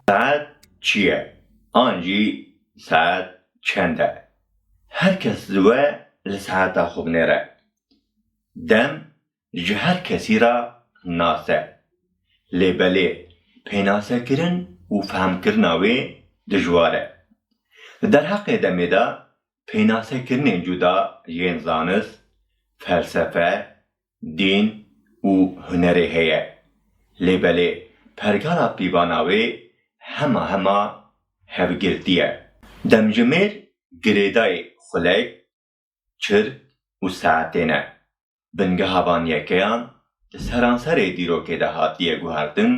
Saet çi ye an jî saet çend e? Her kes li we li saeta xwe binêre. Dem ji her kesî re nas e. Lê belê pênasekirin û fehmkirina wê dijwar e. Li derheqê demê de Pênasekirinên cuda yên zanist, felsefe, dîn û hunerê heye. Lê belê pergala pîvana wê hema hema hevgirtî ye. Demjimêr girêdayî xulek, çirk û saetê ne. Bingeha van yekeyan li seranserê dîrokê de hatiye guhertin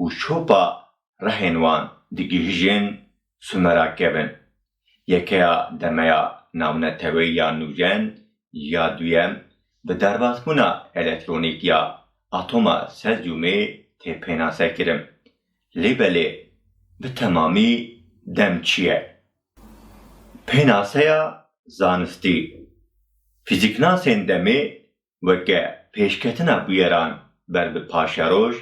û şopa rehên wan digihîjên Sumera kevin. Yekeya demeya navneteweyî ya nûjen ya duyem bi derbasbûna elektronîk ya atoma sezyûmê tê pênasekirin. Lê belê bi temamî dem çi ye? Pênaseya zanistî, Fîzîknasên demê weke pêşketina bûyeran ber bi paşeroj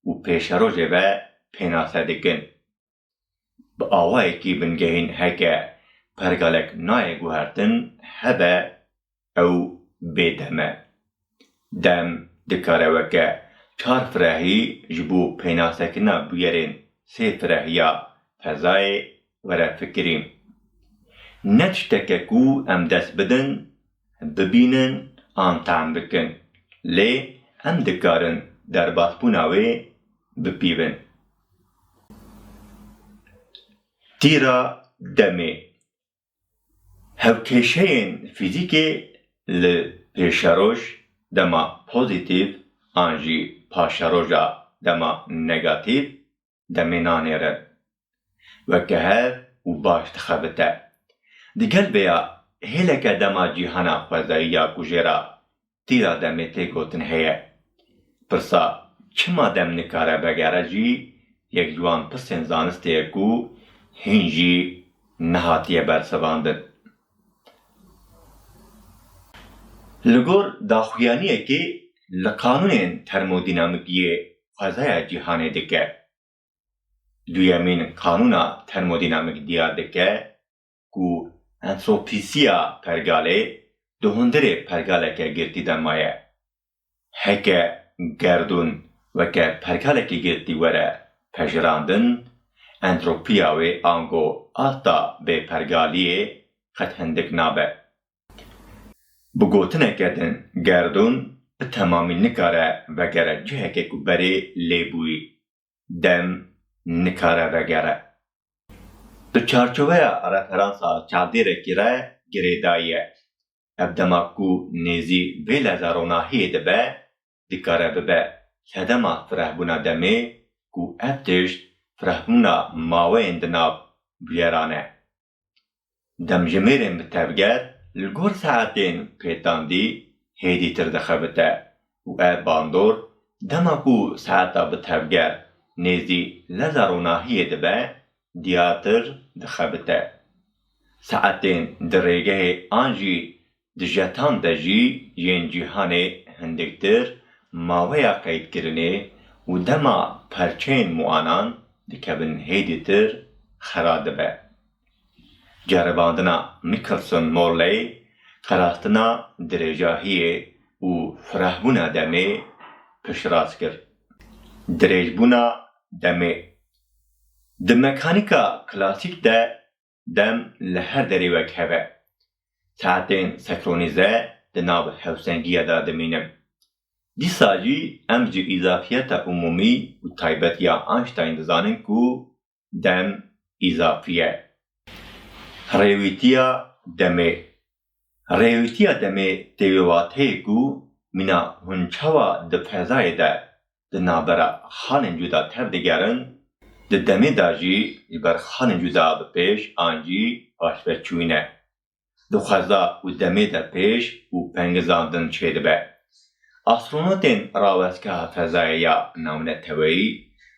û pêşerojê ve pênase dikin. Bi awayekî bingehîn heke pergalek nayê guhertin hebe ew bêdem e. Dem dikare weke çar firehî ji bo pênasekirina bûyerên sê firehiya fezayê were fikirîn. Ne tişteke ku em dest bidin, bibînin an tehm bikin, lê em dikarin derbasbûna wê bipîvin. Tîra demê Hevkêşeyên fîzîkê li pêşeroj dema pozîtîf an jî paşeroja dema negatîf demê nanêrin. Weke hev û baş dixebite. Digel vêya hêleke dema cîhana xwezayî ya kujêra Tîra demê tê gotin heye. Pirsa çima dem nikare vegere jî yek ji wan pirsên zanistê ye ku hîn jî nehatiye bersivandin. Li gor daxuyaniyekê li qanûnên termodînamîkiyê xwezaya cîhanê dike. Duyemîn qanûna termodînamîk diyar dike ku entropîsiya pergalê di hundirê pergaleke girtî de maye. Heke gerdûn weke pergalekî girtî were pejirandin, entropiya wê ango asta bêpergaliyê qet hindik nabe. Bi gotineke din gerdûn bi temamî nikare vegere cihekê ku berê lê bûyî. dem nikare vegere. Di çarçoveya referansa çavdêrekî re girêdayiye. Ev dema ku nêzî vê leza ronahiyê de be, dikare bibe sedema firehbûna demê ku ev tişt firehbûna maweyên di nav bûyeran e. Demjimêrên bi tevger li gor saetên pêtandî hêdîtir dixebite û ev bandor dema ku saeta bi tevger nêzî leza ronahiyê dibe diyartir dixebite. Saetên di rêgehê an jî Di jetan de jî yên cîhanê hindiktir maweya qeydkirinê û dema perçeyên muanan dikevin hêdîtir xera dibe. Ceribandina Michelson Morley qerastina dirêjahiyê û firehbûna demê piştrast kir. Dirêjbûna demê di mekanîka klasîk de Dem li her derê wek hev e. Saetên sekronize di nav hewsengiya de dimînin. Dîsa jî em ji îzafiyeta umûmî û taybetiya Einstein dizanin ku dem îzafî ye. Rêwîtiya demê Rêwîtiya demê tê wê wateyê ku mîna hûn çawa di fezayê de di navbera xanên cuda tev digerin, di demê de jî ji ber xanên cuda bi pêş an jî paşve çûyîne. Di xweza û demê de pêş û pengizandin çêdibe. Astronotên rawestgeha fezayê ya navneteweyî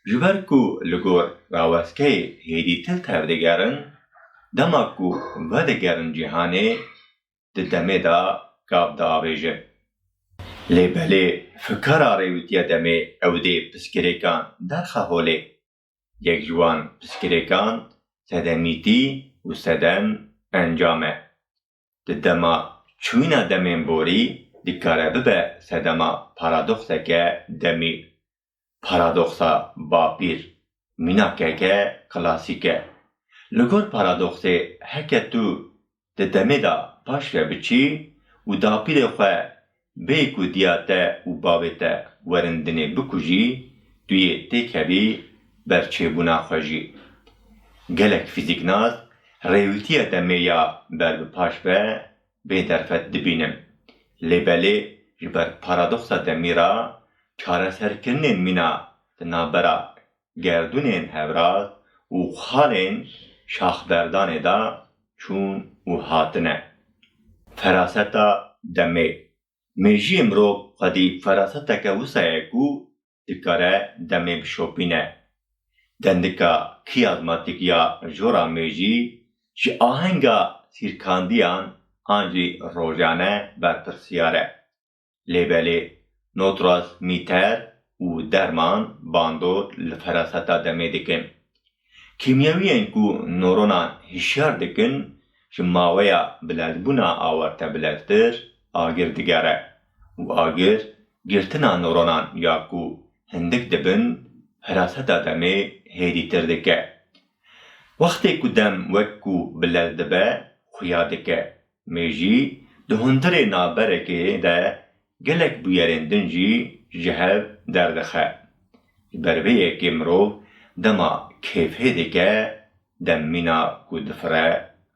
ji ber ku li gor rawestgehê hêdî til tev digerin, dema ku vedigerin cîhanê, di demê de gav diavêjin. Lê belê fikara rêwîtiya demê ew dê piskirêkan derxe holê. Yek ji wan piskirêkan sedenîtî û seden encam e. Di dema çûyîna demên borî dikare bibe sedema paradokseke demî Paradoxa Bapîr, mînakeke klasîk e. Li gor paradoxê heke tu di demê de paş ve biçî û dapîrê xwe bêyî ku diya te û bavê te werin dinê bikujî, tu yê têkevî berçêbûna xwe jî. Gelek fîzîknas rêwîtiya demê ya ber bi paş ve bê derfet dibînin. Lê belê ji ber paradoxa demî re çareserkirinên mîna di navbera gerdûnên hevrat û xalên şaxberdanê de çûn û hatine. Feraseta demê. Mêjiyê mirov xwedî feraseteke wisa ye ku dikare demê bişopîne. Dendika kiyazmatik ya jora mêjî ji ahenga sîrkandiyan an jî rojane berpirsyar e. Lê belê notras mîter û derman bandor li feraseta demê dikin. Kîmyewiyên ku noronan hişyar dikin ji maweya bilezbûna awarte bileztir agir digere. û agir girtina noronan ya ku hindik dibin hiraseta demê hêdîtir dike. Wextê ku dem wek ku bilez dibe xuya dike. Mêjî di hundirê navberekê de gelek bûyerên din jî ji hev derdixe. Ji ber vê yekê mirov dema kêfhê dike Dem mîna ku difire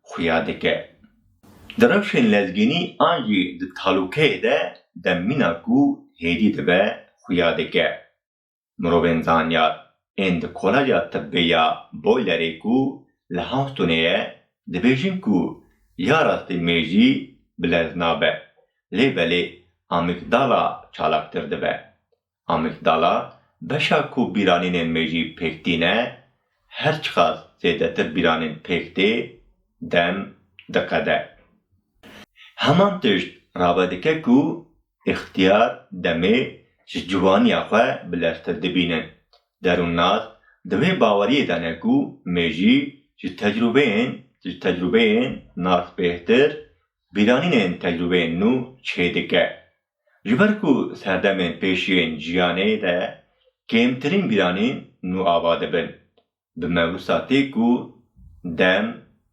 xuya dike. Di rewşên lezgînî an jî di talûkeyê de dem mîna ku hêdî dibe xuya dike. Mirovên zanyar ên di Koleja Tibbê ya Boilerê ku li Houstonê ye dibêjin ku ya rastî mêjî bilez nabe lê belê amîgdala çalaktir dibe. Amîgdala, beşa ku bîranînên me jî pêk tîne, her çiqas zêdetir bîranîn pêk tê, dem diqede. Heman tişt rave dike ku îxtiyar, demê, ji ciwaniya xwe bileztir dibînin. Derûnnas di wê baweriyê de ne ku me jî ji tecrûbeyên ji tecrûbeyên nas bêhtir bîranînên tecrûbeyên nû çêdike. Ji ber ku serdemên pêş yên jiyanê de kêmtirîn bîranî nû ava dibin, bi mewisa tê ku dem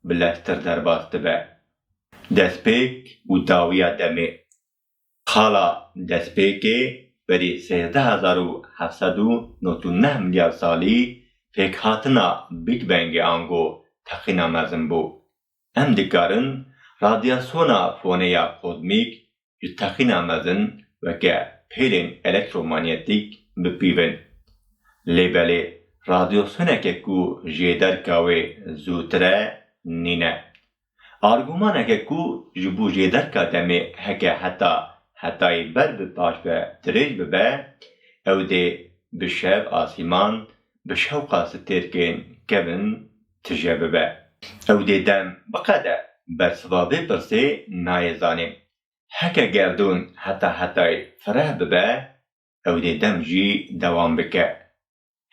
bi leztir derbas dibe. Destpêk û dawiya demê Xala destpêkê berî sêzdeh hezar û heft sed û nod û neh milyar salî pêkhatina Big Bangê ango teqîna mezin bû. Em dikarin radyasyona fonê ya kozmîk ji texîna mezin weke pêlên elektromanyetîk bipîvin. Lê belê radyasyoneke ku jê derka wê zûtir e nîne. Argûmaneke ku ji bo jê derka demê heke heta hetayî ber bi paş ve dirêj bibe, ew dê bi şev asîman bi şewqa stêrkên kevin, tije bibe. Ew dê dem biqede bersiva vê pirsê nayê zanîn. Heke gerdûn heta hetayê fireh bibe, ew dê dem jî dewam bike.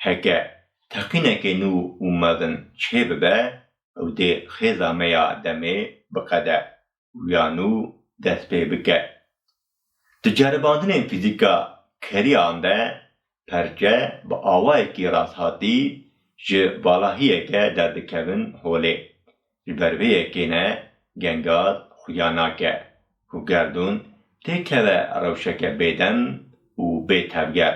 Heke teqînekê nû û mezin çêbibe, ew dê xêza me ya demê biqede. û ya nû dest pê bike. Di ceribandinên fîzîka keriyan de perçe bi awayekî rasthatî ji valahiyeke derdikevin holê. Ji ber vê yekê ne gengaz xuya nake ku gerdûn têkeve rewşeke bêdem û bêtevger.